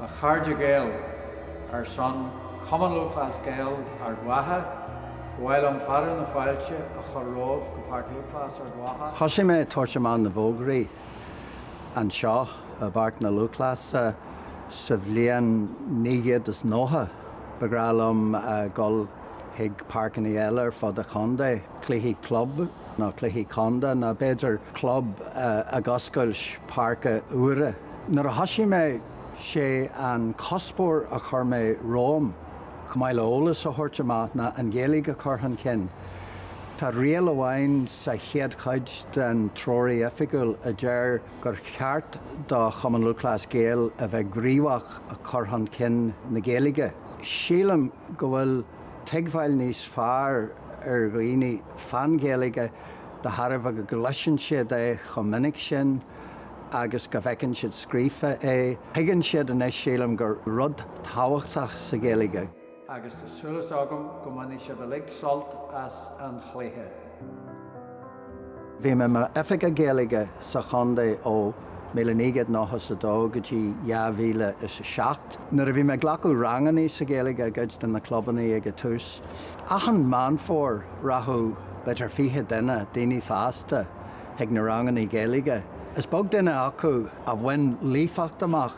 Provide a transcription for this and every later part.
A chairde Gael, Ar son Chumann Lúthchleas Gael Ard Mhacha, ba mhaith liom fearadh na fáilte a chur romhaibh go Páirc Lúthchleas Ard Mhacha, Thosaigh mé ag tabhairt amach na bhfógraí anseo i bPáirc na Lúthchleasa sa bhliain míle naoi gcéad is nócha. Ba bhreá liom dul chuig páirceanna eile ar fud an chontae. cluichí club nó cluichí contae nó b'fhéidir club ag oscailt páirce úire. Nuair a thosaigh mé, sé an cuspóir a chuir mé romham, chomh maith le eolas a thabhairt amach, ná an Ghaeilge a chur chun cinn. Tá riail amháin sa chéad chuid den Treoraí Oifigiúil a deir gur cheart do Chumann Lúthchleas Gael a bheith gníomhach i cur chun cinn na Gaeilge. Sílim go bhfuil tuigbheáil níos fearr ar dhaoine fán Ghaeilge de thairbhe go gcloiseann siad é chomh minic sin agus go bhfeiceann siad scríofa é. Tuigeann siad anois, sílim, gur rud tábhachtach í an Ghaeilge. Agus tá súil agam go mbainfidh sibh uilig sult as an chluiche. Bhí mé i mo Oifigeach Gaeilge sa chontae ó míle naoi gcéad nocha is a dó go dtí dhá mhíle is a seacht. Nuair a bhí mé ag glacadh rangannaí sa Ghaeilge i gcuid de na clubannaí ag a tús, achan Meán Fómhair rachadh b'fhéidir fiche duine, daoine fásta, chuig na rangannaí Gaeilge. Is beag duine acu a bhain líofacht amach,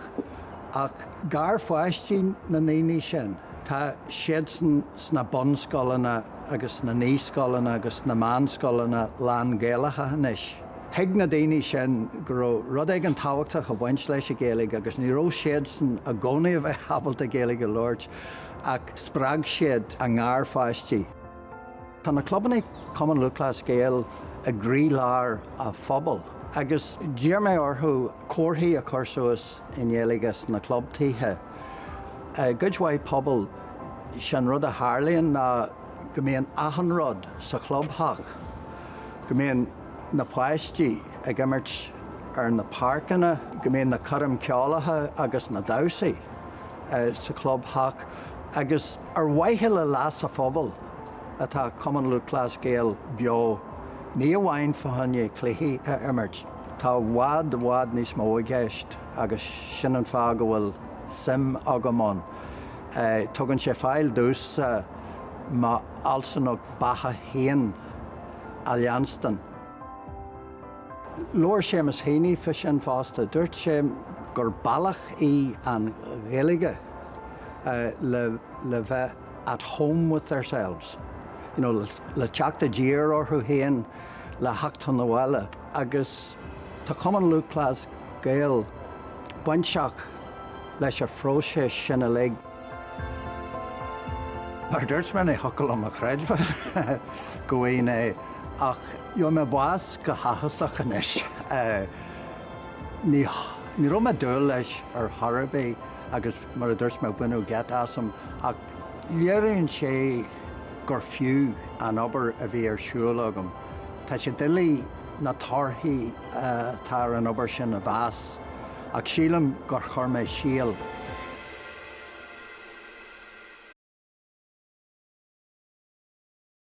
ach garpháistí na ndaoine sin, tá siad sna bunscoileanna, agus na naíscoileanna agus na meánscoileanna lán-Ghaelacha anois. Thuig na daoine sin go raibh rud éigin tábhachtach ag baint leis an Ghaeilge agus ní raibh siadsan ag gabháil a bheith ábalta Gaeilge a labhairt ach spreag siad a ngarpháistí. Tá na clubannaí Cumann Lúthchleas Gael i gcroílár a' phobail agus d'iarr mé orthu comharthaí a chur suas i nGaeilge sna clubtithe. I gcuid mhaith pobal, is é an rud a tharlaíonn ná go mbíonn achan rud sa chlubtheach, go mbíonn na páistí ag imirt ar na páirceanna, go mbíonn na coirmeacha ceoil agus na damhsaí sa chlubtheach agus ar mhaithe le leas an phobail atá Cumann Lúthchleas Gael beo ní amháin fá choinne cluichí a imirt, Tá i bhfad i bhfad níos mó i gceist agus sin an fáth go bhfuil suim agam ann. Tugann sé faill domhsa m'fhealsúnacht beatha féin a leanstan. Labhair Seamus Heaney fá sin fosta, dúirt sé gur bealach í an Ghaeilge le bheith. at home with theirselves, you know le teacht i dtír orthu féin, le theacht chun an bhaile agus tá Cumann Lúthchleas Gael bainteach leis an phróiseas sin uilig. Mar dúirt mé, níor shíl mé a chreidbheáil go bhfaighinn é ach gheobhaidh mé bás go háthasach anois. Ní raibh mé ag dúil leis ar chor ar bith agus. Mar a dúirt mé, baineadh geit asam, ach léiríonn sé gur fiú an obair a bhí ar siúl agam. Tá sé doiligh na torthaí atá ar an obair sin a mheas, ach sílim gur chuir mé síol.